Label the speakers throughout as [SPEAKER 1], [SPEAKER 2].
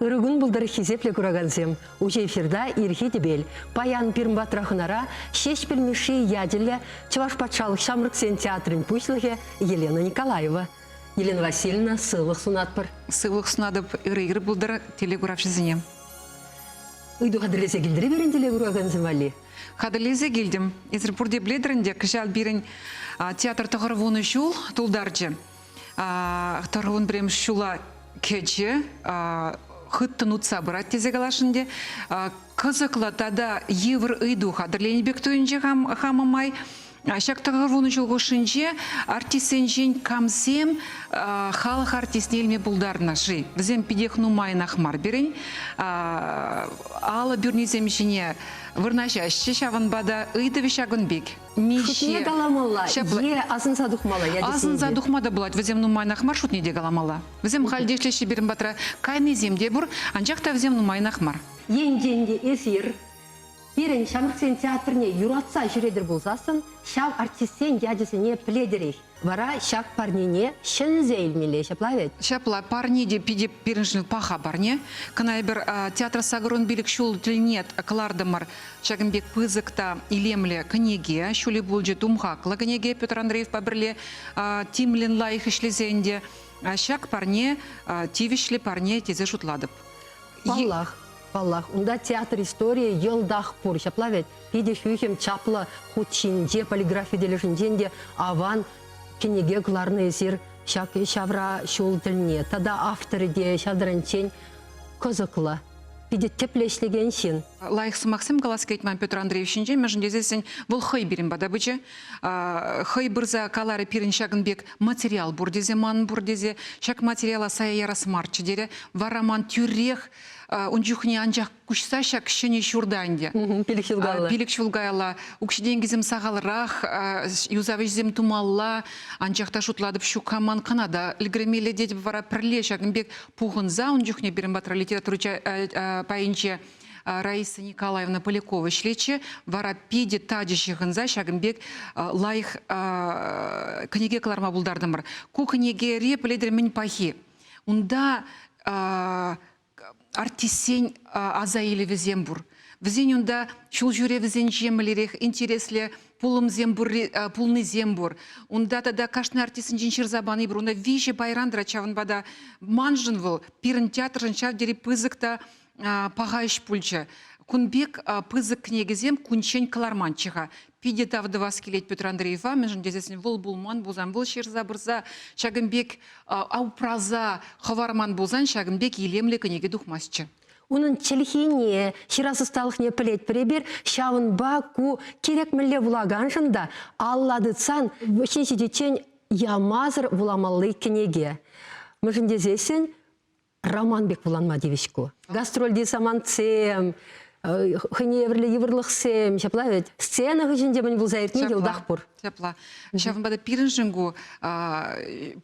[SPEAKER 1] Ырӑ кун пултӑр хисеплӗ куракансем! Уҫӑ эфирта Ирхи тӗпел, паян пирӗн патра хӑнара Ҫеҫпӗл Мишши ячӗллӗ Чӑваш патшалӑх ҫамрӑксен театрӗн пуҫлӑхӗ Елена Николаева. Елена Васильевна, сывлӑх сунатпӑр. Сывлӑх сунатӑп,
[SPEAKER 2] ырӑ ир пултӑр телекуравҫӑсене.
[SPEAKER 1] Ыйту хатӗрлесе килтӗр пирӗн телекуракансем валли. Хатӗрлесе килтӗм.
[SPEAKER 2] Эсир пурте пӗлетӗр ӗнтӗ, кӑҫал пирӗн театр тӑхӑрвунӑ ҫул тултарчӗ. Тӑрӑлӑн пӗрремӗш ҫула кӗчӗ хыттӑн утса пырать тесе каласшӑн ӗнтӗ. Кӑсӑклӑ тата йывӑр ыйту хатӗрленӗ пек туйӑнчӗ хам, хамӑ май. Ҫак тӑхӑр вунӑ ҫул хушшинче артистсенчен камсем халӑх артистне илме пултарнӑ-ши? Вӗсем питех нумайӑнах мар пирӗн. Алӑ пӳрнисем ҫине вырнаҫаҫҫӗ, ҫавӑнпа та ыйтӑвӗ ҫакӑн пек. Миҫе каламалла
[SPEAKER 1] е асӑнса тухмалла ячӗсем Асӑнса тухма та
[SPEAKER 2] пулать, вӗсем нумайнах мар, шутне те каламалла. Вӗсем халь те ӗҫлеҫҫӗ пирӗн патра, кайнисем те пур, анчах та вӗсем нумайнах мар. Енчен те
[SPEAKER 1] эсир пирӗн ҫамрӑксен театрне юратса ҫӳретӗр пулсассӑн ҫав артистсен ячӗсене пӗлетӗрех. Вара ҫак парнене ҫӗнсе илмелле ҫапла вӗт? Ҫапла, парне те
[SPEAKER 2] питӗ пирӗншӗн паха парне. Кӑна эпир Театра сакӑрун пилӗк ҫул тӗлне кӑлартӑмӑр ҫакӑн пек пысӑк та илемлӗ кӗнеке. Ҫули пулчӗ тумхахлӑ кӗнеке Петр Андреевпа пӗрле тимлӗн лайӑх ӗҫлесе ӗнтӗ. Ҫак парне тивӗҫлӗ парне тесе шутлатӑп. Паллах,
[SPEAKER 1] паллах, унта театр историйӗ йӑлтах пур ҫапла вӗт? питӗ хӳхӗм чаплӑ хут ҫинче, полиграфи тӗлӗшӗнчен те аван кӗнеке кӑларнӑ эсир ҫак ҫавра ҫул тӗлне. Тата авторӗ те ҫавсенчен кӑсӑклӑ питӗ тӗплӗ ӗҫлекен ҫын. Лайӑх сӑмахсем калас
[SPEAKER 2] килет ман Петр Андреев ҫинчен, мӗншӗн тесессӗн вӑл хӑй пирӗн пата пычӗ. Хӑй пырса каларӗ пирӗн ҫакӑн пек материал пур тесе, манӑн пур тесе. Ҫак материала сая ярас марччӗ терӗ. Вара ман тӳрех ун чухне анчах куҫса ҫак ҫӗнӗ ҫурта ӗнтӗ. Пилӗк ҫул каялла. Пилӗк ҫул каялла укҫи-тенкисем сахалрах, юсав ӗҫӗсем тумалла. Анчах та шутлатӑп, ҫук-ха ман кӑна та ӗлкӗрмелле тетӗп вара пӗрле ҫакӑн пек пухӑнса. Ун чухне пирӗн патра литература пайӗнче Раиса Николаевна Полякова ӗҫлетчӗ. Вара питӗ тачӑ ҫыхӑнса ҫакӑн пек лайӑх кӗнеке кӑларма пултартӑмӑр. Ку кӗнекере пӗлетӗр мӗн пахи? Унта Артистсен аса илӗвӗсем пур. Вӗсен унта ҫул ҫӳревӗсенче мӗнлерех интереслӗ пулӑмсем пурри, пулнисем пур. Унта тата кашни артистсенчен ҫырса пани пур. Унта виҫӗ пайран тӑрать, ҫавӑнпа та маншӑн вӑл пирӗн театршӑн ҫав тери пысӑк та паха ӗҫ пулчӗ. Кун пек пысӑк кӗнекесем кунччен кӑларманччӗ-ха. питӗ тав тӑвас килет Петр Андреева, мӗншӗн тесен вӑл пулман пулсан, вӑл ҫырса пырса ҫакӑн пек упраса хӑварман пулсан, ҫакӑн пек илемлӗ кӗнеке тухмастчӗ. Унӑн
[SPEAKER 1] чӗлхине, ҫырас ӑсталӑхне пӗлетпӗр эпир, ҫавӑнпа ку кирек мӗнле вулаканшӑн та алла тытсан ҫын ҫитиччен ямасӑр вуламалли кӗнеке. Мӗншӗн тесессӗн роман пек вуланма тивӗҫ ку. Гастрольти самантсем, э, хӑйне евӗрлӗ йывӑрлӑхсем, ҫапла вӗт. Сцена хыҫӗнче мӗн пулса иртни те утах пур. Ҫапла. Ҫавӑнпа
[SPEAKER 2] та пирӗншӗн ку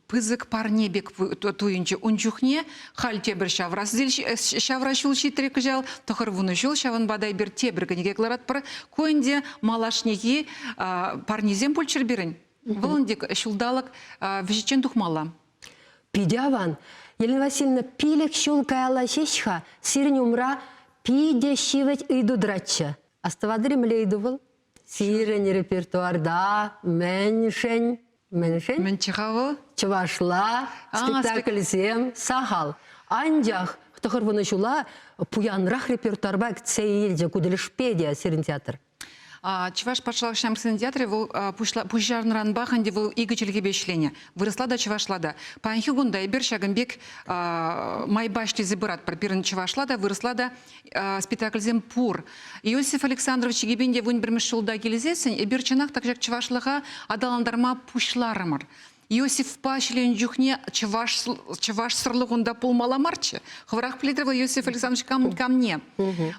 [SPEAKER 2] пысӑк парне пек туйӑнчӗ. Ун чухне халь тепӗр ҫавра ҫул ҫитрӗ кӑҫал, тӑхӑр вунӑ ҫул, ҫавӑнпа та эпир тепӗр кӗнеке кӑларатпӑр. Ку ӗнтӗ малашнехи парнесем пулччӑр пирӗн. Вӑл ӗнтӗ ҫулталӑк вӗҫӗччен тухмалла. Питӗ аван.
[SPEAKER 1] Елена Васильевна, пилӗк ҫул каялла ҫеҫ-ха сирӗн умра питӗ ҫивӗч ыйту тӑратчӗ. Астӑватӑр-и мӗнле ыйту вӑл? Сирӗн репертуарта мӗншӗн мӗншӗн? Мӗнччӗ-ха
[SPEAKER 2] вӑл? Чӑвашла
[SPEAKER 1] спектакльсем сахал. Анчах тӑхӑрвунӑ ҫула пуянрах репертуарпа кӗтсе илчӗ ку тӗлӗшпе те сирӗн театр. Чӑваш
[SPEAKER 2] патшалӑх ҫамрӑксен театрӗ вӑл пуҫарнӑранпах ӗнтӗ вӑл икӗ чӗлхепе ӗҫленӗ. Вырӑсла та, чӑвашла та. Паянхи кунта эпир ҫакӑн пек майпа ӗҫлесе пыратпӑр. Пирӗн чӑвашла та, вырӑсла та спектакльсем пур. Иосиф Александрович Гибенде вун пӗрмӗш ҫулта килсессӗн эпир чӑнах та ҫак чӑвашлӑха аталантарма пуҫларӑмӑр. Иосифпа ҫӳренӗ чухне чӑваш, чӑвашсӑрлӑх унта пулмалла марччӗ. Хӑвӑрах пӗлетӗр вӑл Иосиф Александрович кам, камне.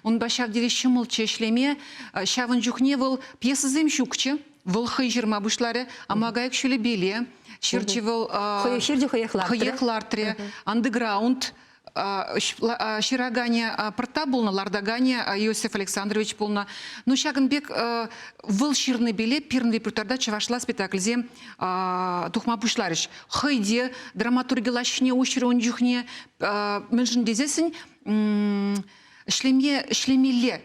[SPEAKER 2] Унпа ҫав тери ҫӑмӑлччӗ ӗҫлеме. Ҫавӑн чухне вӑл пьесӑсем ҫукчӗ. Вӑл хӑй ҫырма пуҫларӗ Амагайӑк ҫулӗпеле. Ҫырчӗ вӑл. Хӑех ҫырчӗ,
[SPEAKER 1] хӑех лартрӗ. Хӑех лартрӗ.
[SPEAKER 2] Андеграунд. ҫыраканӗ пӑртта пулнӑ, лартаканӗ Иосиф Александрович пулнӑ. Ну ҫакӑн пек вӑл ҫырнипеле пирӗн репертуарта чӑвашла спектакльсем тухма пуҫларӗҫ. Хӑй те драматурги лаҫҫине уҫрӗ ун чухне. Мӗншӗн тесессӗн ӗҫлеме ӗҫлемелле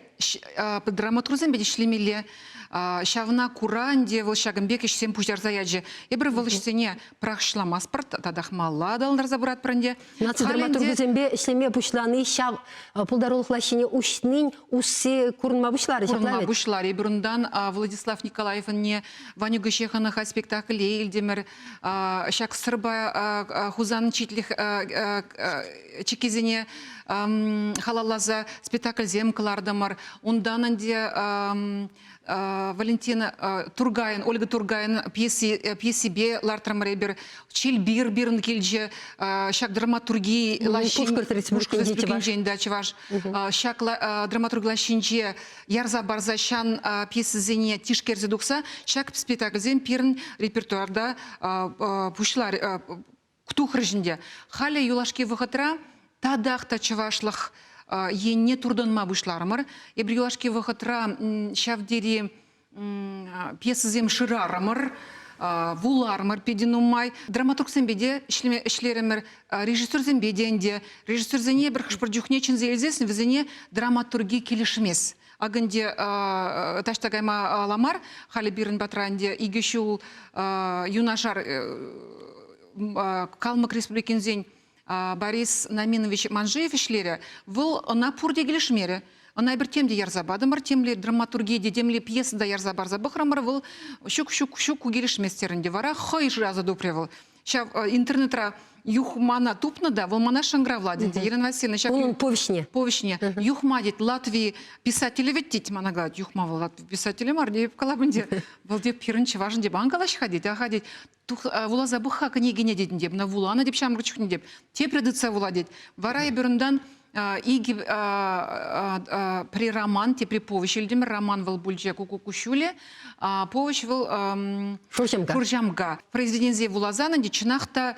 [SPEAKER 2] драматургсем пек ӗҫлемелле ҫавна кура ӗнтӗ вӑл ҫакӑн пек ӗҫсем пуҫтарса ячӗ эпир вӑл ӗҫсене пӑрахҫӑламастпӑр татахмалла аталантарса пыратпӑр ӗнтӗ наци драматургӗсемпе
[SPEAKER 1] ӗҫлеме пуҫлани ҫав пултарулӑх лаҫҫине уҫнин усси курӑнма пуҫларӗ курӑнма пуҫларӗ эпир
[SPEAKER 2] унтан Владислав Николаевӑнне Ваню Гощехана спектакле илтӗмӗр Ҫак сӑрпа Хусан читлӗх чиккисене халалласа спектакльсем кӑлартӑмӑр. Унтан ӗнтӗ Валентина Тургайӑн, Ольга Тургайӑн пьеси, пьесипе лартрӑмӑр эпир. Чилбир пирӗн килчӗ. Ҫак драматурги лаҫҫин... Пушкӑрт ритмушки дети да чӑваш. Ҫак драматурги лаҫҫинче ярса парса ҫан пьесисене тишкерсе тухса ҫак спектакльсем пирӗн репертуарта пуҫлар тухрӗҫ ӗнтӗ. Халӗ юлашки вӑхӑтра татах та чӑвашлӑх енне туртӑнма пуҫларӑмӑр. Эпир юлашки вӑхӑтра ҫав тери пьесӑсем шырарӑмӑр вуларӑмӑр питӗ нумай. Драматургсемпе те ӗҫлерӗмӗр, режиссерсемпе те ӗнтӗ. Режиссерсене пӗр хӑш-пӗр чухне чӗнсе илсессӗн вӗсене драматурги килӗшмест. Акӑ ӗнтӗ таҫта кайма ала мар, халӗ пирӗн патра ӗнтӗ икӗ ҫул юнашар Калмӑк Республикинсен Борис Наминович Манжеев ӗҫлерӗ, вӑл ӑна пурте килӗшмерӗ. Ӑна эпир темле ярса патӑмӑр, темле драматургие те, темле пьеса та ярса парса пӑхрӑмӑр, вӑл ҫук, ҫук, ҫук, ку килӗшмест терӗ ӗнтӗ. Вара хӑй шыраса тупрӗ вӑл. Ҫав интернетра юх мана тупнӑ та, вӑл мана шӑнкӑравлать, тет Ирина Васильевна. Ҫак Унӑн повеҫне. Повеҫне.
[SPEAKER 1] Юхма,
[SPEAKER 2] тет, Латви писателӗ вӗт, тет, мана калать. Юхма вӑл Латви писателӗ мар, тейӗп, калап ӗнтӗ. Вӑл, тет, пирӗн чӑвашӑн, тет, ан калаҫ-ха, тет, аха, тет. Вуласа пӑх-ха кӗнекене, тетӗн, теп, ӑна вуланӑ, теп, ҫамрӑк чухне, теп. Тепре тытса вула, тет. Вара эпир унтан Икӗ при роман, те при повеҫ илтӗмӗр. Роман вӑл пулчӗ Куку куҫҫулӗ. Повеҫ вӑл Шурҫамка. Шурҫамка. Произведенсен вуласан ӗнтӗ чӑнах та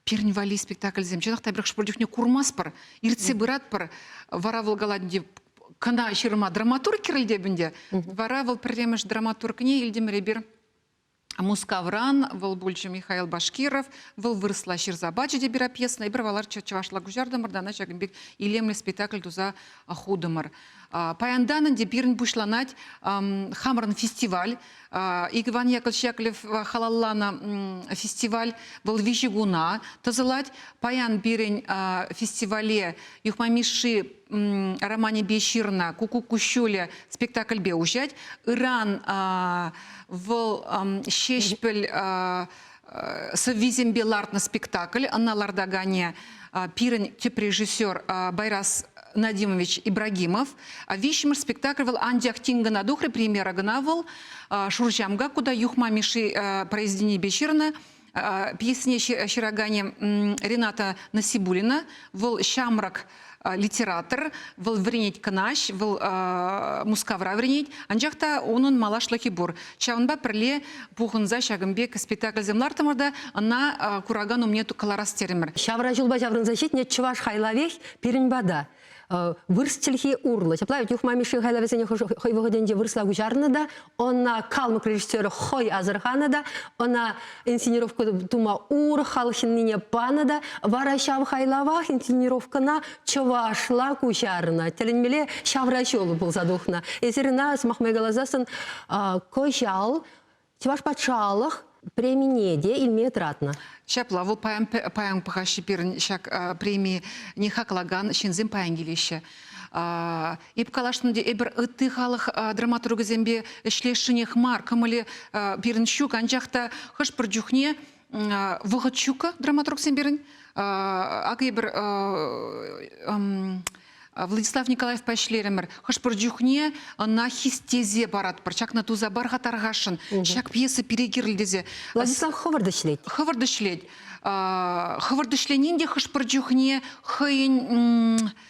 [SPEAKER 2] пирӗн валли спектакльсем чӑнах та пӗр хӑш-пӗр чухне курмастпӑр, иртсе пыратпӑр, вара вӑл калать ӗнтӗ кӑна ҫырма драматург кирӗлтеп ӗнтӗ. Вара вӑл пӗрремӗш драматургне илтӗмӗр эпир Мускавран вӑл пулчӗ Михаил Башкиров. Вӑл вырӑсла ҫырса пачӗ те перопьесана. Эпир валар чӑвашла куҫартӑмӑр та ӑна ҫакӑн пек илемлӗ спектакль туса хутӑмӑр. Паянтан ӗнтӗ пирӗн пуҫланать хамӑрӑн фестиваль. Ик Иван Яковлевич Яковлев халалланӑ фестиваль вӑл виҫӗ куна тӑсӑлать. Паян пирӗн фестивале Юхма Мишши романӗпе ҫырнӑ Куку куҫҫулӗ спектакльпе уҫать. Ыран вӑл Ҫеҫпӗл сӑввисемпе лартнӑ спектакль. Ӑна лартаканӗ пирӗн тӗп режиссер Байрас Надимович Ибрагимов. Виҫҫӗмӗш спектакль вӑл анчах тин кӑна тухрӗ, премьера кӑна вӑл Шурҫамка кута юхма Мишши произведенипе ҫырнӑ. пьесине ҫыраканӗ Рената Насибулина. Вӑл ҫамрӑк литератор, вӑл вӗренет кӑнаҫ, вӑл Мускавра вӗренет, анчах та унӑн малашлӑхӗ пур. Ҫавӑнпа пӗрле пухӑнса ҫакӑн пек спектакльсем лартӑмӑр та ӑна куракан умне кӑларас терӗмӗр. Ҫавра ҫулпа ҫаврӑнса
[SPEAKER 1] ҫитнӗ чӑваш хайлавех пирӗн пата. Вырс чӗлхи урлӑ. Ҫапла вӗт Юхма Мишшин хайлавӗсене хӑй вӑхӑтӗнче вырсла куҫарнӑ та, ӑна калмӑк режиссерӗ хӑй асӑрханӑ та, ӑна инсценировка тума урӑх халӑх ҫыннине панӑ та, вара ҫав хайлавах инсценировкӑна чӑвашла куҫарнӑ. Тӗлӗнмелле ҫавраҫул пулса тухнӑ. Эсир ӑна, сӑмах май каласассӑн, кӑҫал Чӑваш патшалӑх премине те илме тӑратнӑ. Ҫапла, вӑл паян,
[SPEAKER 2] паян пӑхаҫҫӗ пирӗн ҫак преми, не хаклакан ҫынсем паян килеҫҫӗ. Эп каласшӑн ӗнтӗ, эпир ытти халӑх драматургӗсемпе ӗҫлесшӗнех мар, кӑмӑлӗ пирӗн ҫук, анчах та хӑш-пӗр чухне вӑхӑт ҫуккӑ драматургсем пирӗн. Акӑ эпир Владислав Николаевпа ӗҫлерӗмӗр. Хӑш-пӗр чухне ӑна хистесе паратпӑр. Ҫакна туса пар-ха тархасшӑн. Ҫак пьеса пире кирлӗ тесе. Владислав хӑвӑрт
[SPEAKER 1] ӗҫлет. Хӑвӑрт ӗҫлет.
[SPEAKER 2] Хӑвӑрт ӗҫленин те хӑш-пӗр чухне хӑйӗн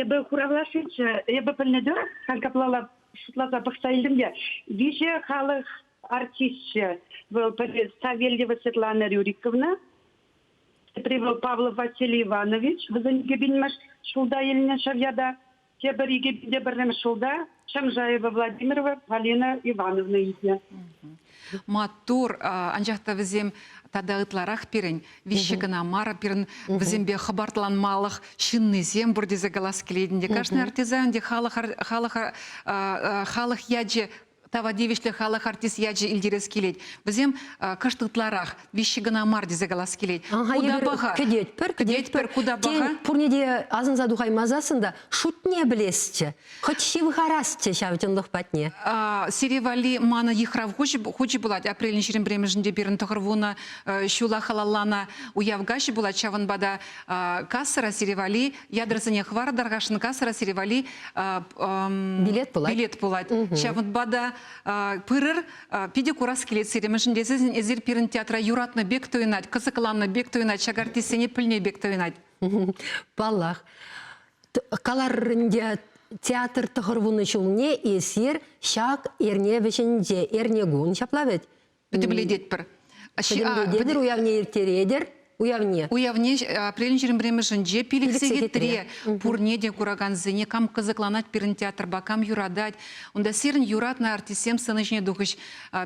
[SPEAKER 1] Эпӗ
[SPEAKER 3] хуравлашиччен эпӗ пӗлнӗ тӑрӑх, халь каплала шутласа пӑхса илтӗм те, виҫӗ халӑх артисчӗ. Вӑл пӗри Савельева Светлана Рюриковна, тепри вӑл Павлов Василий Иванович, вӗсен кӗпинмӗш ҫулта илнӗ ҫав ята. Тепӗр икӗ, тепӗрремӗш ҫулта Чӑмшаева
[SPEAKER 2] Владимирова Полина Ивановна илтнӗ. Маттур, анчах та вӗсем тата ытларах пирӗн виҫҫе кӑна мар, пирӗн вӗсемпе хӑпартланмалӑх ҫыннисем пур тесе калас килет ӗнтӗ. Кашни артизан ӗнтӗ халӑх халӑха халӑх ячӗ тава тивӗҫлӗ халӑх артист ячӗ илтерес килет. Вӗсем кӑшт ытларах виҫҫи кӑна мар тесе калас килет. Ага, куда паха? Кӗтетпӗр, кӗтетпӗр, куда паха? Тен, пурне те
[SPEAKER 1] асӑнса тухаймасассӑн та шутне пӗлесчӗ, хӑть ҫывхарасчӗ ҫав чӑнлӑх патне. Сире валли
[SPEAKER 2] манӑ йыхрав хучӗ пулать. Апрельӑн ҫирӗм пӗрремӗшӗнче пирӗн тӑхӑр вунӑ ҫула халалланӑ уяв каҫӗ пулать. Ҫавӑнпа та кассӑра сире валли ядрасене хӑвартӑрхашӑн кассӑра сире валли билет пулать. Билет пулать. Ҫавӑнпа та пырӑр. Питӗ курас килет сире, мӗншӗн тесен эсир пирӗн театра юратнӑ пек туйӑнать, кӑсӑкланнӑ пек туйӑнать, шагартистсене пӗлнӗ пек туйӑнать. Паллах.
[SPEAKER 1] Каларӑн те, театр тӑхӑрвунӑ ҫулне эсир ҫак эрне вӗҫӗнче, эрнекун ҫапла вӗт? Пӗтӗмлететпӗр.
[SPEAKER 2] Пӗтӗмлететӗр,
[SPEAKER 1] уявне ирттеретӗр. Уявне. Уявне
[SPEAKER 2] апрелӗн ҫирӗм пӗрремӗшӗнче пилӗксе хитре пурне те куракансене кам кӑсӑкланать пирӗн театрпа, кам юратать. Унта сирӗн юратнӑ артистсем сцена ҫине тухӗҫ.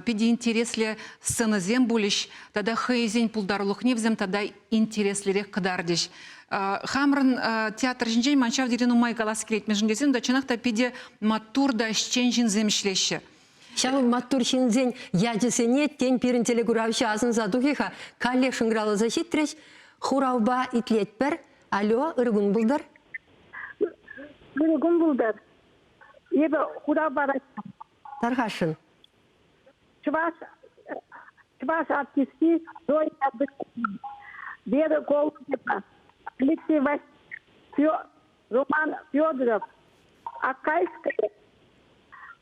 [SPEAKER 2] Питӗ интереслӗ сценӑсем пулӗҫ тата хӑйсен пултарулӑхне вӗсем тата интереслӗрех кӑтартӗҫ. Хамӑрӑн театр ҫинчен ман ҫав тери нумай калас килет, мӗншӗн тесен та чӑнах та питӗ маттур та ӗҫчен ҫынсем ӗҫлеҫҫӗ. Ҫавӑн маттур
[SPEAKER 1] ҫынсен ячӗсене, тен, пирӗн телекуравҫӑ асӑнса тухӗ-ха, каллех шӑнкӑравласа ҫитрӗҫ. Хуравпа итлетпӗр. Алло, ыркун пултӑр. Ыркун
[SPEAKER 3] пултӑр. Эпӗ хурав паратчӗ. Тархасшӑн. Чӑваш, чӑваш артисти Зоя Абдыкина, Вера Голубева, Алексей Васильев, Роман Федоров, Акайская,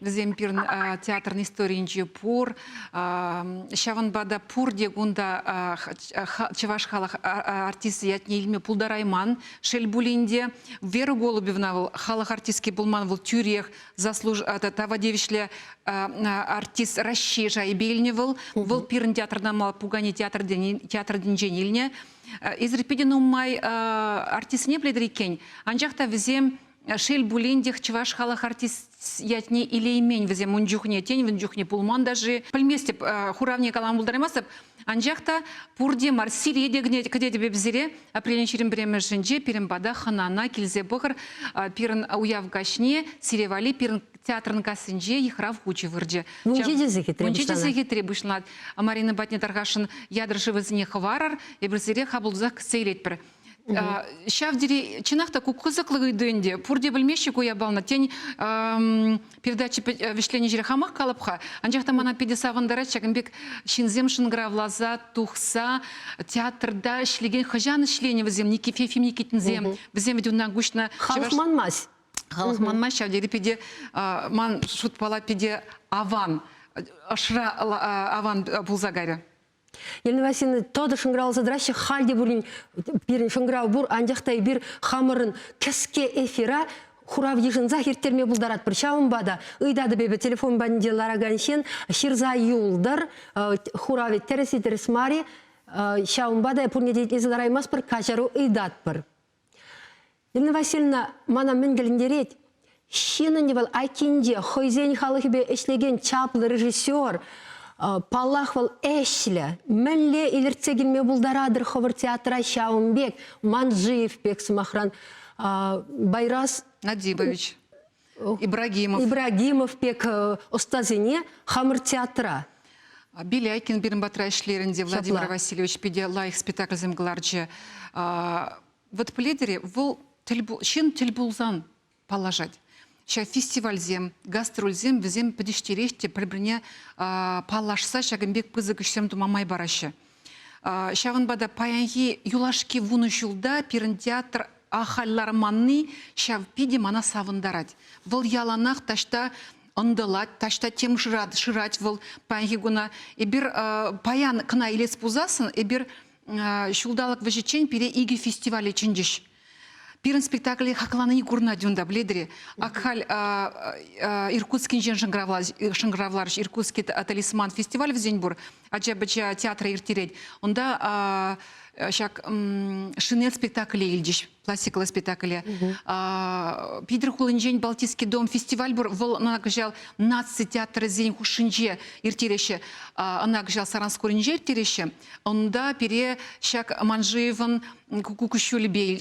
[SPEAKER 2] Вӗсем пирӗн театрӑн историйӗнче пур. Ҫавӑнпа та пурте кунта чӑваш халӑх артисчӗ ятне илме пултарайман. Шел пулин те, Вера Голубевна вӑл халӑх артистки пулман, вӑл тӳрех заслуж тава тивӗҫлӗ артист Раҫҫей шайӗпе илнӗ вӑл. Вӑл пирӗн театрта мала пукане театр тӗнчен илнӗ. Эсир питӗ нумай артистсене пӗлетӗр иккен, анчах та вӗсем Шел пулин тех чӑваш халӑх артист ятне илеймен вӗсем ун чухне, тен, ун чухне пулман та-ши, пӗлместӗп, э, хуравне калама пултараймастӑп. Анчах та пурте Марсиле те кӗтетӗп эп сире. Апрелӗн ҫирӗм пӗрремӗшӗнче пирӗн пата хӑнана килсе пӑхӑр. Э, пирӗн уяв каҫне Сире валли пирӗн театрӑн кассинче йыхрав хучӗ вырчӗ. Мунчи тесе хитре Мунчи тесе
[SPEAKER 1] хитре пуҫланать.
[SPEAKER 2] Марина патне тархасшӑн, ятӑр шывӗсене хӑварӑр, эпир сире хапӑлтусах кӗтсе илетпӗр. Ҫав тери чӑнах та ку кӑсӑклӑ ыйту ӗнтӗ. Пурте пӗлмеҫҫӗ ку япалана. Тен, передача вӗҫленӗ ҫӗре хамах калӑп-ха, анчах та мана питӗ савӑнтарать ҫакӑн пек ҫынсем шӑнкӑравласа, тухса театрта ӗҫлекен хӑҫан ӗҫленӗ вӗсем Никиф Ефим Никитинсем? Вӗсем вӗт унтан куҫнӑ. Халӑх манмасть.
[SPEAKER 1] Халӑх манмасть
[SPEAKER 2] ҫав тери питӗ ман шутпала питӗ аван, ӑшра аван пулса кайрӗ. Елена
[SPEAKER 1] Васильевна тӑтӑ шӑнкӑравласа тӑраҫҫӗ. Халь те пулин пирӗн шӑнкӑрав пур, анчах та эпир хамӑрӑн кӗске эфира хурав йышӑнсах ирттерме пултаратпӑр. Ҫавӑнпа та ыйтатӑп эпӗ телефон патӗнче ларакан ҫын ҫырса юлтӑр, хуравӗ тӗрӗс-и, тӗрӗс мар-и. Ҫавӑнпа та пурне те итлесе лараймастпӑр, каҫару ыйтатпӑр. Ирина Васильевна мана мӗн кӗлӗнтерет? Ҫыннӑн вӑл айккинче хӑйсен халӑхӗпе ӗҫлекен чаплӑ режиссер, паллах, вӑл ӗҫлӗ. Мӗнле илӗртсе килме пултаратӑр хӑвӑр театра ҫавӑн пек Манджиев пек, сӑмахран, Байрас Надибович.
[SPEAKER 2] Ибрагимов. Ибрагимов пек
[SPEAKER 1] э, ӑстасене хамӑр театра Беляйкин
[SPEAKER 2] пирӗн патра ӗҫлерӗнте Владимир Ҫапла. Васильевич питӗ лайӑх спектакльсем кӑларчӗ. Вот Пледере вӑл тӗл ҫын тӗл пулсан паллашать. Ҫав фестивальсем, гастрольсем вӗсем пӗтӗҫтерех те пӗр-пӗрне паллашса ҫакӑн пек пысӑк ӗҫсем тума май параҫҫӗ. Ҫавӑнпа та паянхи юлашки вунӑ ҫулта пирӗн театр ахаль ларманни ҫав питӗ мана савӑнтарать. Вӑл яланах таҫта ӑнтӑлать, таҫта тем шырать, шырать вӑл паянхи куна. Эпир паян кӑна илес пулсассӑн эпир ҫулталӑк вӗҫӗччен пире икӗ фестивале чӗнчӗҫ. Пирӗн спектакле хакланине курнать унта, бледре. Ак халь Иркутскинчен шӑнкӑравларӗҫ, Иркутский талисман фестиваль вӗсен пур, ача-пӑча театра ирттерет. Унта ҫак шинель спектакле илчӗҫ, пластиклӑ спектакле. Питӗр хулинчен Балтийский дом фестиваль пур, вӑл ӑна кӑҫал наци театрӗсен хушшинче ирттереҫҫӗ, ӑна кӑҫал Саранскуринче ирттереҫҫӗ. Унта пире ҫак Манжиевӑн куҫҫулӗпе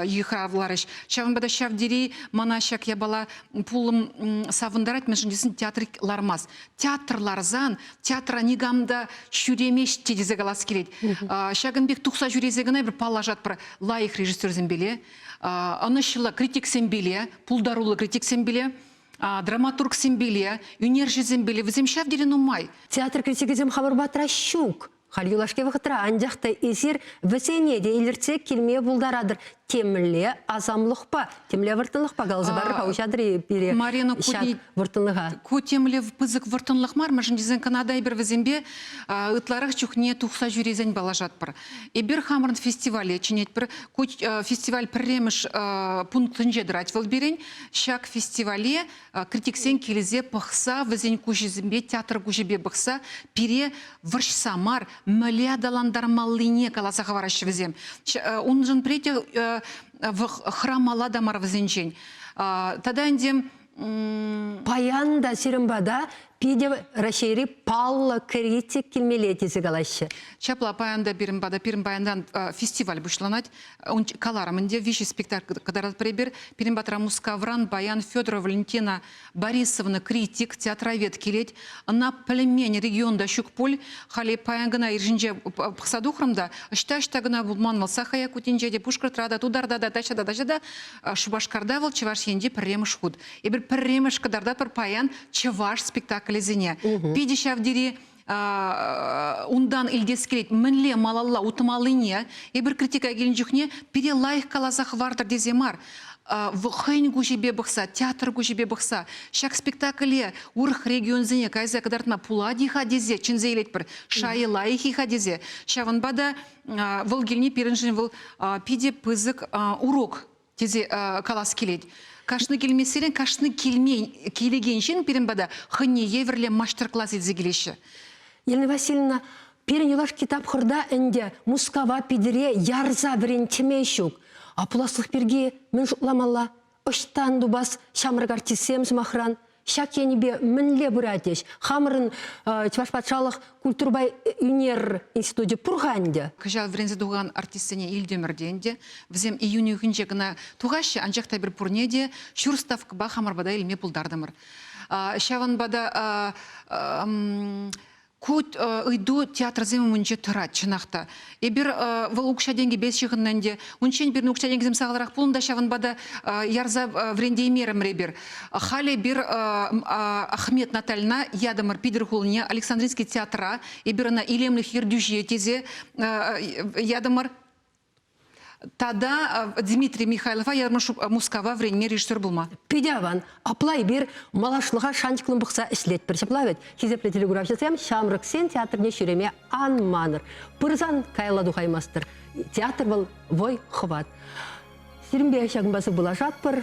[SPEAKER 2] йыхравларӗҫ. Ҫавӑнпа та ҫав тери мана ҫак япала пулӑм савӑнтарать, мӗншӗн тесен театр лармасть. Театр ларсан театра никам та ҫӳремест тесе калас килет. Ҫакӑн пек тухса ҫӳресе кӑна эпир паллашатпӑр лайӑх режиссерсемпеле, ӑнӑҫлӑ критиксемпеле, пултаруллӑ критиксемпеле. драматургсемпеле, ӳнерҫӗсемпеле вӗсем ҫав тери нумай. Театр критикӗсем
[SPEAKER 1] хамӑр патра ҫук. Халь юлашки вӑхӑтра анчах та эсир вӗсене те илӗртсе килме пултаратӑр. Темле асамлӑхпа, темле вӑрттӑнлӑхпа каласа парӑр-ха уҫатӑр-и пире Марина ҫак вӑрттӑнлӑха? Ку темле
[SPEAKER 2] пысӑк вӑрттӑнлӑх мар, мӗншӗн тесен кӑна та эпир вӗсемпе ытларах чухне тухса ҫӳресен паллашатпӑр. Эпир хамӑрӑн фестивале чӗнетпӗр. Ку фестиваль пӗрремӗш пунктӗнче тӑрать вӑл пирӗн. Ҫак фестивале критиксен килсе пӑхса, вӗсен куҫӗсемпе, театр куҫӗпе пӑхса пире вӑрҫса мар, мӗне аталантармаллине каласа хӑвараҫҫӗ вӗсем. Уншӑн пӗри те хӑрамалла та мар вӗсенчен. Тата ӗнтӗ Паян
[SPEAKER 1] та сирӗн пата Питӗ Раҫҫейри паллӑ критик килмелле тесе калаҫҫӗ. Ҫапла, паян та
[SPEAKER 2] пирӗн пата, пирӗн паянран фестиваль пуҫланать. Ун каларӑм ӗнтӗ, виҫӗ спектакль кӑтаратпӑр эпир. Пирӗн патра Мускавран паян Федорова Валентина Борисовна критик, театровед килет. Ӑна пӗлмен регион та ҫук пуль. Халӗ паян кӑна ир ҫинче пӑхса тухрӑм та, ӑҫта-ӑҫта кӑна пулман вӑл, Саха Якутинче те, Пушкӑртра та, Тутарта та, таҫта та, таҫта та, Шупашкарта вӑл, Чӑваш Енте пӗрремӗш хут. Эпир пӗрремӗш кӑтартатпӑр паян чӑваш спектаклӗсене. Питӗ ҫав тери унтан илтес килет мӗнле малалла утмаллине эпир критика килнӗ чухне пире лайӑх каласа хӑвартӑр тесе мар хӑйӗн куҫӗпе пӑхса театр куҫӗпе пӑхса ҫак спектакле урӑх регионсене кайса кӑтартма пулать-и-ха тесе чӗнсе илетпӗр шайӗ лайӑх-и-ха тесе ҫавӑнпа та вӑл килни пирӗншӗн вӑл питӗ пысӑк урок тесе э, калас килет. Кашни килмессерен кашни килмен, килекен ҫын пирӗн пата хӑйне евӗрлӗ мастер-класс илсе килеҫҫӗ. Елена
[SPEAKER 1] Васильевна, пирӗн юлашки тапхӑрта ӗнтӗ Мускава Питӗре ярса вӗрентме ҫук. А пуласлӑх пирки мӗн шутламалла? Ӑҫтан тупас ҫамрӑк артистсем, сӑмахран? Ҫак енӗпе мӗнле пырать ӗҫ? Хамӑрӑн Чӑваш патшалӑх культурӑпа ӳнер институчӗ пур-ха ӗнтӗ. Кӑҫал вӗренсе тухан
[SPEAKER 2] артистсене илтӗмӗр те ӗнтӗ. Вӗсем июнь уйӑхӗнче кӑна тухаҫҫӗ, анчах та эпир пурне те ҫур ставкӑпа хамӑр пата илме пултартӑмӑр. Ҫавӑнпа та Ку ыйту театрсем умӗнче тӑрать, чӑнах та. Эпир вӑл укҫа-тенкӗпе ҫыхӑннӑ ӗнтӗ. Унччен пирӗн укҫа-тенкӗсем сахалрах пулнӑ та ҫавӑнпа та ярса вӗрентеймерӗмӗр эпир. Халӗ эпир Ахмет Натальна ятӑмӑр Питӗр хулине Александринский театра. Эпир ӑна илемлӗх ертӳҫи тесе ятӑмӑр. Тада э, Дмитрий Михайлова Ярмыш Мускава вренме режиссер булма. Пидяван, апла
[SPEAKER 1] эпир малашлӑха шанчӑклӑн пӑхса ӗҫлетпӗр ҫапла вӗт. Хисеплӗ телеграфҫӑсем ҫамрӑксен театрне ҫӳреме ан манӑр. Пырсан каялла тухаймастӑр. Театр вӑл вӑй хӑват. Сирӗнпе ҫакӑнпа сывпуллашатпӑр.